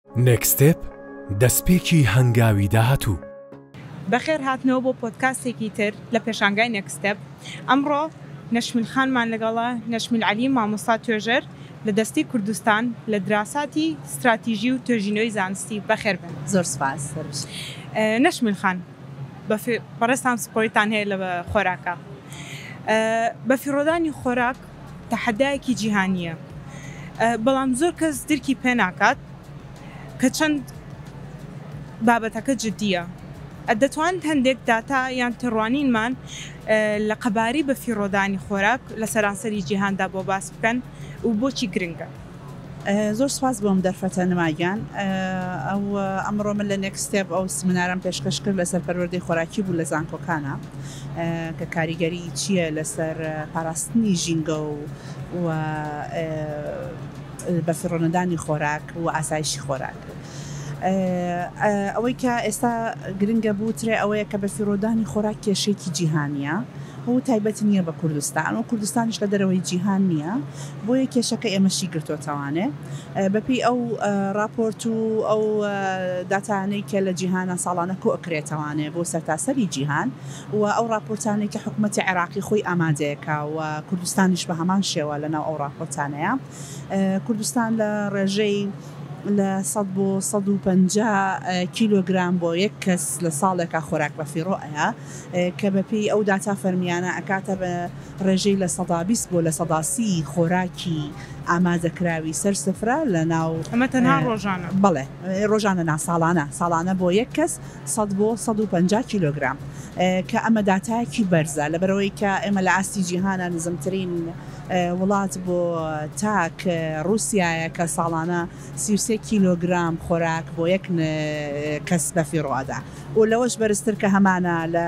Next Step، دەستپێکی هەنگاوی داهاتوو. بەخێر هاتنەوە بۆ پۆدکاستێکی تر لە پێشانگای Next Step، ئەمڕۆ نەشمیل خانمان لەگەڵە، نەشمیل عەلی مامۆستا توێژەر لە دەستەی کوردستان لە دراساتی ستراتیژی و توێژینەوەی زانستی، بەخێر بێن. زۆر سوپاس، سەر بشن. نەشمیل خان، بەڕێزتان سپۆریتان هەیە لە خۆراکا، بەفیڕۆدانی خۆراک، تەحەدایەکی جیهانییە، بەڵام زۆر کەس درکی پێ ناکات کە چەند بابەتەکە جدییە. دەتوانن هەندێک داتا یان تێڕوانینمان لە قەبارەی بەفیڕۆدانی خۆراک لە سەرانسەری جیهاندا بۆ باس بکەن و بۆچی گرنگە؟ زۆر سوپاس بۆم دەرفەتە نما گیان ئەو ئەمڕۆ من لە نێکس ستێپ ئەو سمینارم پێشکەش کرد لەسەر پەروەردەی خۆراکی بوو لە زانکۆکانە کە کاریگەری چییە لەسەر پاراستنی ژینگە و و بەفیڕۆنەدانی خۆراک و ئاسایشی خۆراک ئەوەی کە ئێستا گرنگە بوو ترێ ئەوەیە کە بەفیڕۆدانی خۆراک کێشێکی جیهانیە و تایبەت نییە بە کوردستان و کوردستانیش لە دەرەوەی جیهان نییە بۆیە کێشەکە ئێمەشی گرتۆتەوانێ بەپێی ئەو ڕاپۆرت و ئەو داتانەی کە لە جیهانە ساڵانە کۆکرێتەوانێ بۆ سەرتاسەری جیهان و ئەو ڕاپۆرتانەی کە حکومەتی عێراقی خۆی ئامادەیەکە و کوردستانیش بە هەمان شێوە لە ناو ئەو ڕاپۆرتانەیە کوردستان لە ڕێژەی لە سەد بۆ سەد و پەنجا کیلۆگرام بۆ یەک کەس لە ساڵێکا خۆراک بە فیڕۆ ئەیا کە بەپێی ئەو داتا فەرمیانە ئەکاتە بە ڕێژەی لە سەدا بیست بۆ لە سەدا سی ی خۆراکی ئامادەکراوی سەر سفرە لەناو. ئەمە تەنها ڕۆژانە. بەڵێ ڕۆژانە نا ساڵانە، ساڵانە بۆ یەک کەس سەد بۆ سەد و پەنجا کیلۆگرام، کە ئەمە داتایەکی بەرزە لەبەرئەوەی کە ئێمە لە ئاستی جیهانا نزمترین وڵات بۆ تاک ڕوسیایە کە ساڵانە سی و سێ کیلۆگرام خۆراک بۆ یەک کەس بەفیڕۆ ئەدا و لەوەش بەرزتر کە هەمانە لە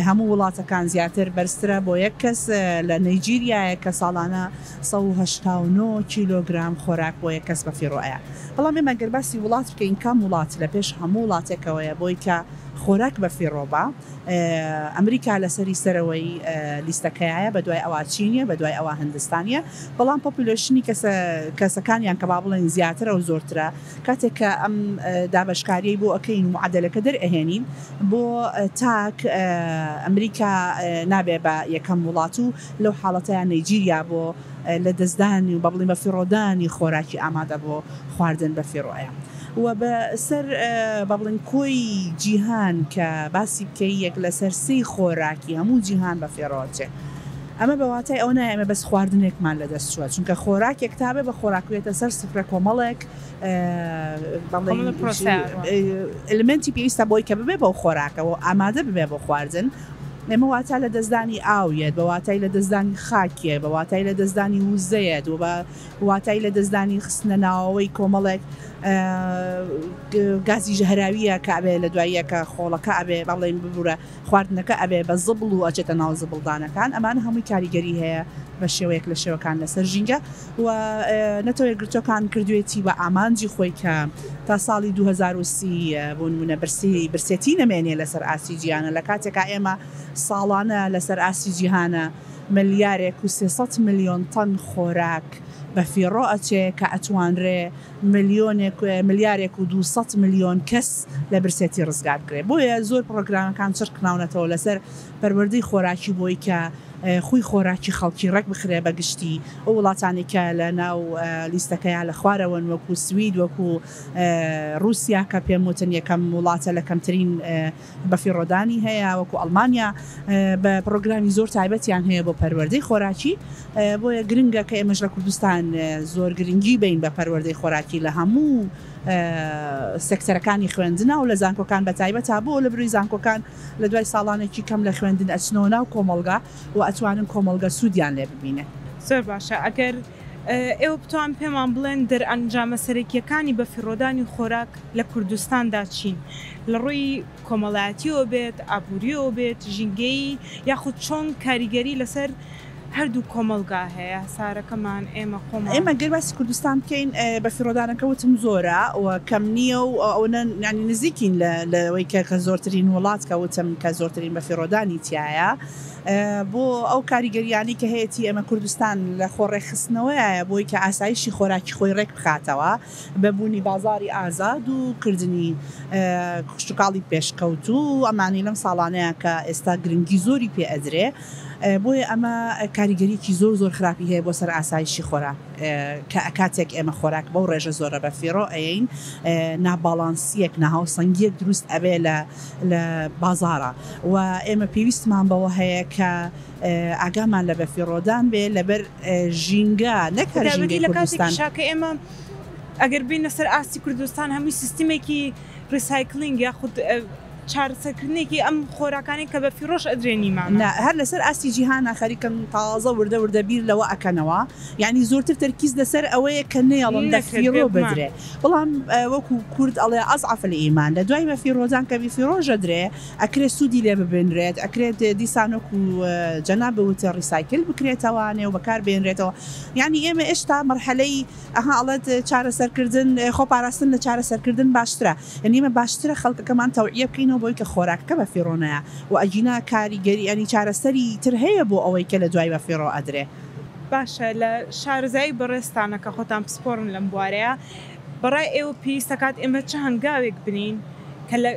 هەموو وڵاتەکان زیاتر بەرزترە بۆ یەک کەس لە نەیجیریایەک کە ساڵانە سەد و هەشتا و نۆ کیلۆگرام خۆراک بۆ یەک کەس بەفیڕۆ ئەیا بەڵام ئێمە گەر باسی وڵات بکەین کام وڵات لە پێش هەموو وڵاتێکەوەیە بۆی کە خۆراک بەفیڕۆ با ئەمریکا لە سەری سەرەوەی لیستەکەیایە بە دوای ئەوا چینیە بە دوای ئەوا هندستانیە بەڵام پۆپولەشنی کەسە کەسەکانیان کە با بڵێن زیاترە و زۆرترە کاتێک کە ئەم دابەشکاریەی بۆ ئەکەین و معەدەلەکە دەرئەهێنین بۆ تاک ئەمریکا نابێ بە یەکەم وڵات و لەو حاڵەتەیا نەیجیریا بۆ لە دەستدانی و بەبڵین بە فیڕۆدانی خۆراکی ئامادە بۆ خواردن بە فیڕۆیە و بە سەر بەبڵین کۆی جیهان کە باسی بکەی یەک لەسەر سێی خۆراکی هەموو جیهان بە فیڕۆ ئەچێ. ئەمە بە واتای ئەوە نایە ئێمە بەس خواردنێکمان لە دەست چووە، چونکە خۆراکێک تا بێ بە خۆراک بێتە سەر سفرە کۆمەڵێک ئەلمێنتی پێویستە بۆی کە ببێ بەو خۆراکەوە ئامادە ببێ بۆ خواردن. ئێمە واتا لە دەستدانی ئاو یەت بە واتای لە دەستدانی خاکیە بە واتای لە دەستدانی وزەیەت و بە واتای لە دەستدانی خستنە ناوەوەی کۆمەڵێک گازی ژەهراویە کابێ لە دواییەکە خۆڵەکە ئەبێ بەڵێن ببوورە خواردنەکە ئەبێ بە زبڵ و ئەچێتە ناو زبڵدانەکان ئەمانە هەمووی کاریگەری هەیە بە شێوەیەک لە شێوەکان لەسەر ژینگە و نەتەوە یەکگرتووەکان کردوێتی بە ئامانجی خۆی کە تا ساڵی دوو هەزار و سی بۆ نموونە برسی برسێتی نەمێنێ لەسەر ئاستی جیهانە لە کاتێکا ئێمە ساڵانە لەسەر ئاستی جیهانە ملیارێک و سێ سەد ملیۆن تەن خۆراک بەفیڕۆ ئەچێ کە ئەتوانرێ ملیۆنێک ملیارێک و دوو سەد ملیۆن کەس لە برسێتی ڕزگار بکرێت بۆیە زۆر پڕۆگرامەکان چڕکراونەتەوە لەسەر پەروەردەی خۆراکی بۆی کە خوی خۆراکی خەڵکی ڕێک بخرێ بەگشتی ئەو وڵاتانی کە لە ناو لیستەکەیان لە خوارەوەن وەکو سوید وەکو ڕوسیا کە پێم وتن یەکەم وڵاتە لە کەمترین بەفیڕۆدانی هەیە وەکو ئەڵمانیا بە پڕۆگرامی زۆر تایبەتیان هەیە بۆ پەروەردەی خۆراکی بۆیە گرنگە کە ئێمەش لە کوردستان زۆر گرنگی بین بە پەروەردەی خۆراکی لە هەموو سێکتەرەکانی خوێندنا و لە زانکۆکان بە تایبەت تا بۆ لە بروی زانکۆکان لە دوای ساڵانێکی کەم لە خوێندن ئەچنەوە ناو کۆمەڵگا و ئەتوانن کۆمەڵگە سوودیان لێ ببینێ. زۆر باشە ئەگەر ئێوە بتوان پێمان بڵێن دەرئەنجامە سەرەکییەکانی بەفیڕۆدانی خۆراک لە کوردستاندا چین؟ لە ڕووی کۆمەڵایەتییەوە بێت، ئابوورییەوە بێت، ژینگەیی یاخود چۆن کاریگەری لەسەر هەردوو کۆمەڵگا هەیە؟ سارەکەمان، ئێمە خۆمان. ئێمە گەر باسی کوردستان بکەین، بەفیڕۆدانەکە وتم زۆرە و کەم نییە و ئەوەنە یانی نزیکین لە لەوەی کە کە زۆرترین وڵات کە وتم کە زۆرترین بەفیڕۆدانی تیایە. بۆ ئەو کاریگەریانەی کە هەیەتی ئێمە کوردستان لە خۆ ڕێکخستنەوەیایە بۆی کە ئاسایشی خۆراکی خۆی ڕێک بخاتەوە بە بوونی بازاری ئازاد و کردنی کشتوکاڵی پێشکەوتوو و ئەمانەی لەم ساڵانەیە کە ئێستا گرنگی زۆری پێ ئەدرێ بۆیە ئەمە کاریگەریەکی زۆر زۆر خراپی هەیە بۆ سەر ئاسایشی خۆرا کە ئەکاتێک ئێمە خۆراک بەو ڕێژە زۆرە بە فیڕۆ ئەین ناباڵانسیەک ناهاوسەنگیەک دروست ئەبێ لە لە بازاڕە و ئێمە پێویستمان بەوە هەیە کە ئاگامان لە بەفیڕۆدان بێ لەبەر ژینگە نەک هەر ژینگەی کوردستان. خوداوەندی لە کاتێکیش هات کە ئێمە ئەگەر بێینە سەر ئاستی کوردستان هەمووی سیستمێکی ڕیسایکلینگ یاخود چارەسەرکردنێکی ئەم خۆراکانەی کە بەفیڕۆش ئەدرێن نیمانە. نا هەر لەسەر ئاستی جیهانە خەریکن تازە وردە وردە بیر لەوە ئەکەنەوە یانی زۆرتر تەرکیز لەسەر ئەوەیە کە نەیەڵن بەفیڕۆ بدرێ. بەڵام وەکو کورد ئەڵێ اضعف الایمان لە دوای بە فیڕۆدان کە بی فیڕۆژە درێ ئەکرێ سودی لێ ببینرێت ئەکرێ دیسان وەکو جەنابت وت ڕیسایکل بکرێتەوە نێو بەکار بێنرێتەوە یانی ئێمە ئێشتا مەرحەلەی ئەها ئەڵێت چارەسەرکردن خۆ پاراستن لە چارەسەرکردن باشترە یانی ئێمە باشترە خەڵکەکەمان تەوعیە بکەینەوە بەوەی کە خۆراکەکە بە فیڕۆ نەیە وە ئەگینا کاریگەری یانی چارەسەری تر هەیە بۆ ئەوەی کە لە دوای بە فیڕۆ ئەدرێ. باشە لە شارەزایی بەڕێزتانە کە خۆتان پسپۆڕن لەم بوارەیە بەڕای ئێوە پێویست دەکات ئێمە چ هەنگاوێک بنێین کە لە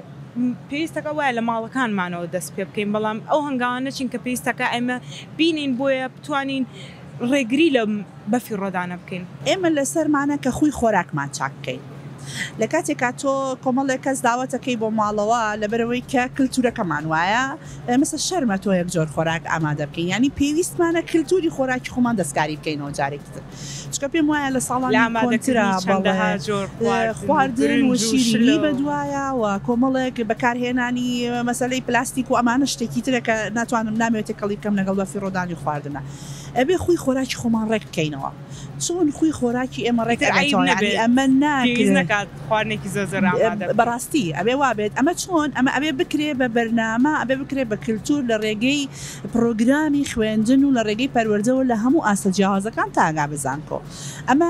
پێویست دەکات وایە لە ماڵەکانمانەوە دەست پێ بکەین بەڵام ئەو هەنگاوانە چین کە پێویست دەکات ئێمە بینین بۆیە بتوانین ڕێگری لە بەفیڕۆدانە بکەین؟ ئێمە لەسەرمانە کە خووی خۆراکمان چاک بکەین لە کاتێکا تۆ کۆمەڵێک کەس داوەتەکەی بۆ ماڵەوە لەبەرئەوەی کە کلتورەکەمان وایە ئێمەسە شەرمە تۆ یەک جۆر خۆراک ئامادە بکەین یانی پێویستمانە کلتوری خۆراکی خۆمان دەستکاری بکەینەوە جارێکی تر چونکە پێم وایە لە ساڵانی کۆنترا چەندەها جۆر خواردن و شیرینی بەدوایە و کۆمەڵێک بەکارهێنانی مەسەلەی پلاستیک و ئەمانە شتێکی ترە کە ناتوانم نامەوێت تێکەڵی بکەم لەگەڵ بەفیڕۆدانی خواردنە ئەبێ خوی خۆراکی خۆمان ڕێک بکەینەوە. چۆن خوی خۆراکی ئێمە ڕێک ئەبێتەوە یانی ئەمە ناکرێت بەڕاستی ئەبێ وابێت ئەمە چۆن ئەمە ئەبێ بکرێ بە بەرنامە ئەبێ بکرێ بە کلتور لە ڕێگەی پڕۆگرامی خوێندن و لە ڕێگەی پەروەردەوە لە هەموو ئاستە جیاوازەکان تا ئەگا بە زانکۆ ئەمە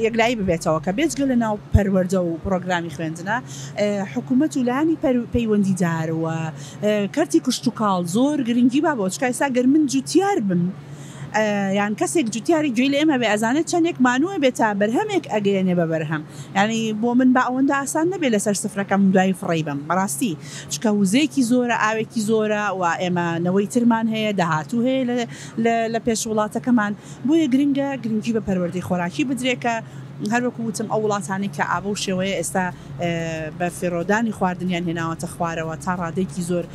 یەکلایی ببێتەوە کە بێجگە لە ناو پەروەردە و پڕۆگرامی خوێندنە حکوومەت و لانی پەیوەندیدار و کەرتی کشتتوکاڵ زۆر گرنگی با بۆچکای ساگەر من جوتیار بم یان کەسێک جوتیاری گوێی لە ئێمە بێ ئەزانێ چەندێک مانووە بێ تا بەرهەمێک ئەگەیەنێ بە بەرهەم یانی بۆ من با ئەوەندە ئاسان نەبێ لەسەر سفرەکەم دوایی فڕێی بەم بەڕاستی چکە وزەیەکی زۆرە ئاوێکی زۆرە و ئێمە نەوەی ترمان هەیە داهاتوو هەیە لە پێش وڵاتەکەمان بۆیە گرنگە گرنگی بە پەروەردەی خۆراکی بدرێ کە هەر وەکو وتم ئەو وڵاتانەی کە ئابە و شێوەیە ئێستا بە فیڕۆدانی خواردنیان هێناوەتە خوارەوە تا ڕادەیەکی زۆر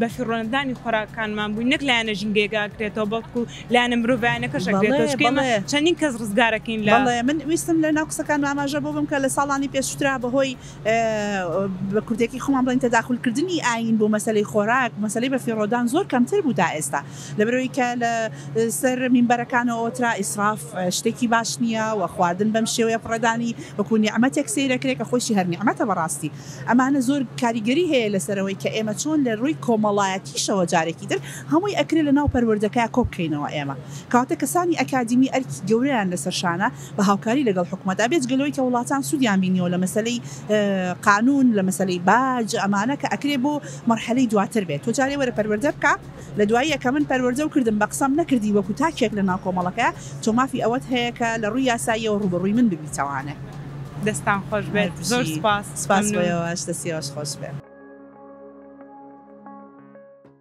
بەفیڕۆنەدانی خۆراکەکانمان بووین، نەک لایەنە ژینگەیەک ئەگرێتەوە، بەڵکو لایەنە مرۆڤایەنەکەش ئەگرێتەوە، چونکە ئێمە چەندین کەس ڕزگارەکەین لە. بەڵێ، من ویستم لەناو قسەکانما ئاماژە بەوە بم کە لە ساڵانی پێشووترا بەهۆی بە کوردێکی خۆمان بڵێین تەداخولکردنی ئایین بۆ مەسەلەی خۆراک، مەسەلەی بەفیڕۆدان زۆر کەمتر بوو تا ئێستا، لەبەرئەوەی کە لە سەر مینبەرەکانەوە ئەوترا ئیسراف شتێکی باش نییە و خواردن بەم شێوەیە فڕێدانی وەکو نیعمەتێک سەیرئەکرێ کە خۆیشی هەر نیعمەتە بەڕاستی. ئەمانە زۆر کاریگەری هەیە لەسەرەوەی کە ئێمە چۆن لە رووی کۆمەڵایەتیشەوە جارێکی تر هەمووی ئەکرێ لە ناو پەروەردەکە کۆ بکەینەوە ئێمە کەواتە کەسانی ئەکادیمی ئەرکی گەورەیان لەسەر شانە بە هاوکاری لەگەڵ حکومەتا بێجگە لەوەی کە وڵاتان سوودیان بینیەوە لە مەسەلەی قانوون لە مەسەلەی باج ئەمانە کە ئەکرێ بۆ مەرحەلەی دواتر بێت تۆ جارێ وەرە پەروەردە بکە لە دواییە کە من پەروەردەو کردم بە قسەم نەکردی وەکو تاکێک لە ناو کۆمەڵەکە تۆ مافی ئەوەت هەیە کە لە ڕووی یاساییەوە ڕووبەڕووی من ببیتەوانێ. دەستتان خۆش بێت زۆر سوپاس مەمنون. سوپاس بۆ ئێوەش دەستی ئێوەش خۆش بێ.